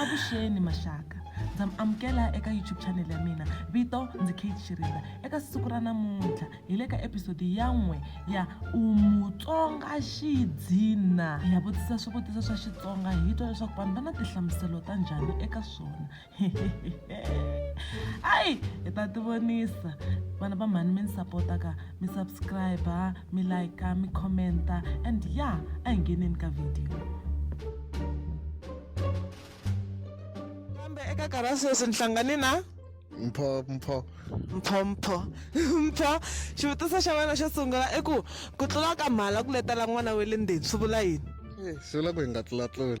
avuxeni maxaka ndza mi amukela eka youtube channel ya mina vito ndzi kate xirinda eka siku ra namuntlha hi le ka episode ya n'we ya umutsonga xidzina hi ya vutisa swivutiso swa xitsonga hi twa leswaku vanhu va na tihlamuselo ta njhani eka swona ayi hi ta tivonisa vana va mhani mi ni sapotaka mi subscribe mi like mi commenta and ya yeah, a hi ngheneni ka video kambe eka nkarhi wa sweswi ni hlangane na mpho mpho mpho mpho mpho xivutiso xa wena xo sungula i ku ku tlula ka mhala ku letela n'wana wa le ndzeni swi vula yini eh, swi vula ku hi nga tlulatluli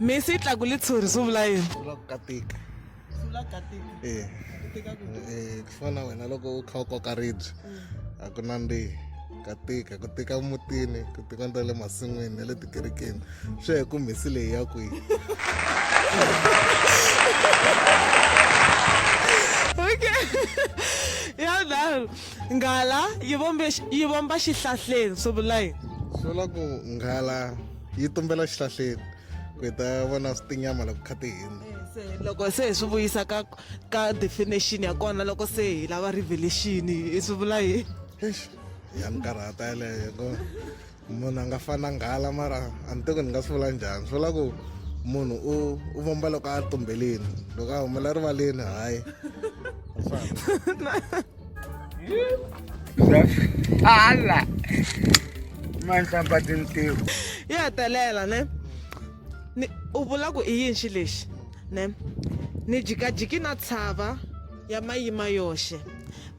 misi yi tlaku litshuri swi vula yini swi vula ku katika eh. eh, ku fana wena loko u kha u koka ribye mm. a ku nandzihi ka tika ku tika mutini ku tika nda le masin'wini na le tikerekeni swi ya hi ku mhisi leyi ya kwihi yadaro nghala yi vomba xihlahleni swi vula yini swi vula ku nghala yi tumbela xihlahleni ku hi ta vona tinyama loko kha ti hindza eh, loko se hi swi vuyisa ka ka definition ya kona loko se hi lava revelation hi swi vula yini ya ni karhata yeleyo ko munhu a nga fana nghala mara a ni teko ni nga swi vula njhani swi vula ku munhu u u vomba loko a tumbelini loko a humela rivaleni hayi hala manhlamba tintiho yo hetelela ne ni u vula ku i yinxi lexi ne ni jikajiki na tshava ya mayima yoxe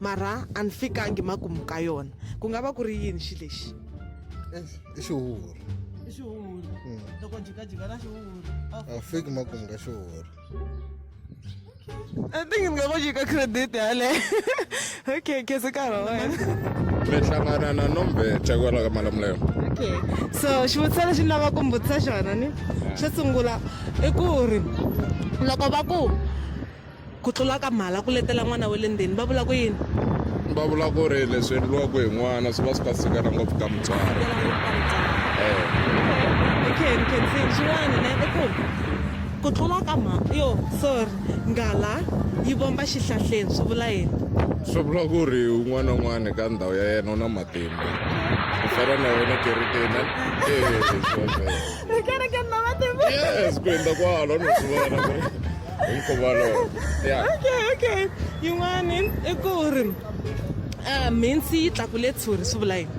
mara a ni fikangi makumu ka yona ku nga va ku ri yini xi lexi i xihuhuri i xihuhuri loko jikajika na xihuhuri a fiki makumu ka xihuhuri I think it's gonna you credit yale. Okay, ke se ka roe. Me hlangana na nombe chakwala ka malamulelo. Okay. So, xivutiso lexi ni lava ku mbutisa xona ni xo sungula i ku ri loko va ku ku tlula ka mhala ku letela n'wana wa le ndzeni va vula ku yini? Va vula ku ri leswi endliwaka hi n'wana swi va swi ka sikana ngopfu ka mutswari. Eh. Okay, ni khensini xin'wana ne i ku Ku tlula ka mha. Yo, sorry. Nghala yi vomba xihlahleni, swi vula yini? Swi vula ku ri un'wana na un'wana ka ndhawu ya yena u na matimba. Ku fana na yona kerekeni. Eh, kerekeni na matimba. Yes, ku endla kwalo no swi vona ku ri hi nkhuvo walowo. Yeah. Okay, okay. Yin'wani i ku ri. a mhintsi yi tlakule tshuri swi vula yini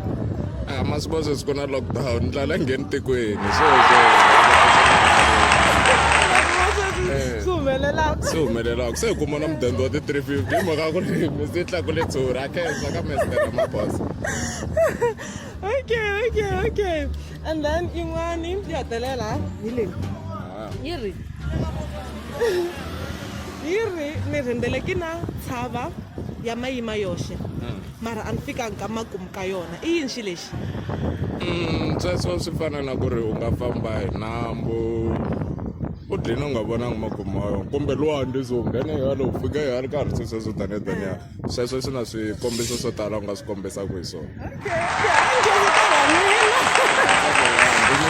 a ma swi vona sweswi ku na lockdown ndlala ngheni tikweni swi humelelaka swi humelelaka se hi kuma na mudende wa ti-three fifty hi mhaka ku ri mhintsi yi tlakule tshuri a khensa ka mestere mabosa okay okay okay and then yin'wani yi hetelela hi leyi yi ri yi ri ni rhendzele ki na tshava ya mayima yoxe hmm. mara a ni fikanga ka makumu ka yona i yini xi lexi hmm, sweswo swi fana na ku ri u nga famba hi nambu u dlina u nga vonanga makumu ma yona kumbe lwandle so nghene yalo u fika yalo ka ha ri swesweswo taniya taniya sweswo swi na swikombiso swo tala u nga swi kombisaka hi swona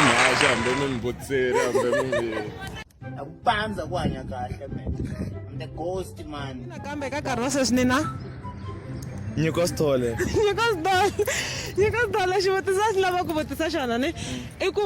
mhaxi hambi mi mbutseri hambi mi a ku pandza ku hanya kahle man I'm the ghost man nakambe ka nkarhi wa sweswi ni na nyiko sithole nyiko sithole nyiko sithole xivutiso a xi lava ku vutisa xona ni i ku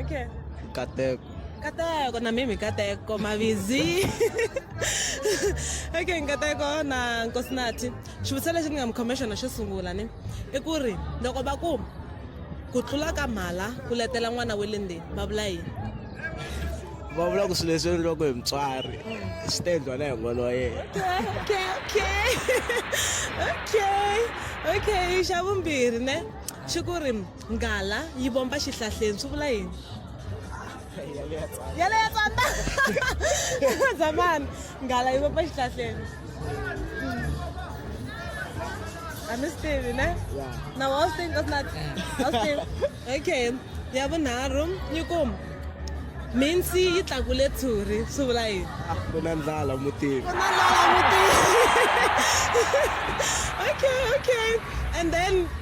Okay. Kateko. Kateko na mimi Kateko mavizi. okay, Kateko na Nkosinathi. Xivutiso lexi ni nga mi commissioner xo sungula ni i ku ri loko va ku ku tlula ka mhala ku letela n'wana wa le ndzeni va vula yini? Va vula ku swilo leswi endliwaka hi mutswari swi ta endliwa na hi n'wana wa yena. Okay, okay. Okay. Okay, xa vumbirhi ne xi ku ri Nghala yi vomba xihlahleni swi vula yini? Yale ya tsandza. Zamani. Nghala yi vomba xihlahleni. A mi swi tivi ne? Na wa swi tivi kasi na wa swi tivi. Okay. Ya vunharhu yi ku minsi yi tlakule tshuri swi vula yini? Ku na ndlala mutini. Ku na ndlala mutini. Okay, okay. And then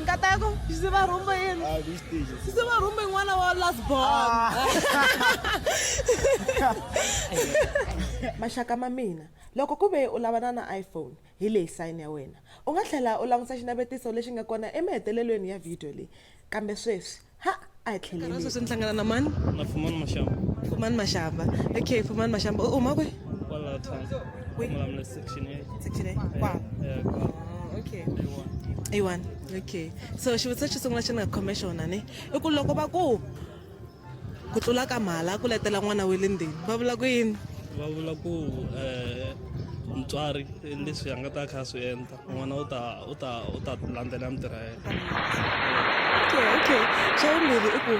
Nkata yako sise ba rhumba yini? Ah, this stage. Sise ba rhumba n'wana wa last born. Ah. Maxaka ma mina, loko ku ve u lavana na iPhone, hi leyi sign ya wena. U nga tlhela u languta xinavetiso lexi nga kona emahetelelweni ya video leyi. Kambe sweswi, ha a tlhelele sweswi ni hlangana na mani na fumani mashamba fumani mashamba okay fumani mashamba u huma kwe kwala than malamula section a section a kwala oh, okay ayiwani okay so xivutiso xo sungula xi ni nga khome xona ni i ku loko va ku ku tlula ka mhala ku letela n'wana wa le ndzeni va vula ku yini va vula ku um mutswari leswi a nga ta kha a swi endla Bueno, uta, uta, uta lande lamtere. Okay, okay. Chawumbiri i ku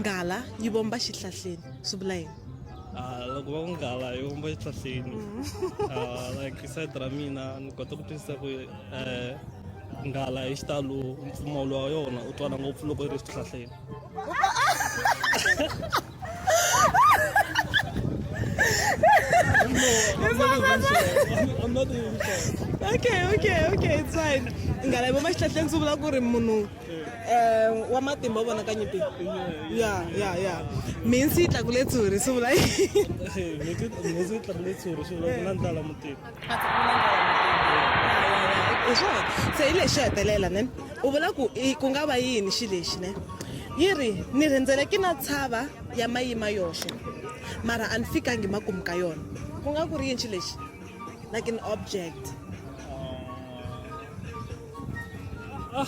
nghala yi vomba xihlahleni swi vula yini? Ah, loko va ku nghala yi vomba xihlahleni. Ah, like side ra mina ni kota ku twisisa ku eh nghala hi xitalo mpfumawulo wa yona u twala ngopfu loko yi ri xihlahleni. okay okay okay it's fine nghala vo maxihlahleni swi vula ku ri munhu um wa matimba u vonaka nyipi ya ya ya minsi yi tlakule tshuri swi vula yini hi swona se hi lexi hetelela ne u vula ku ku nga va yini xi lexi ne yi ri ni rindzele ki na tshava ya mayima yoxe mara a ni fikangi makumu ka yona ku nga ku ri yini xi lexi like an object ah.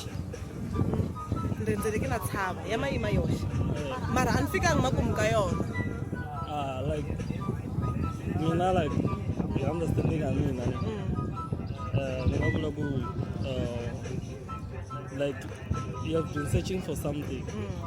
ndendzeleke na tshava ya mayima yoxe mara a ni fikangi makumu ka yona ah, like mina like hi understanding ya mina ni mm. eh, nga vula ku eh, like you have been searching for something mm.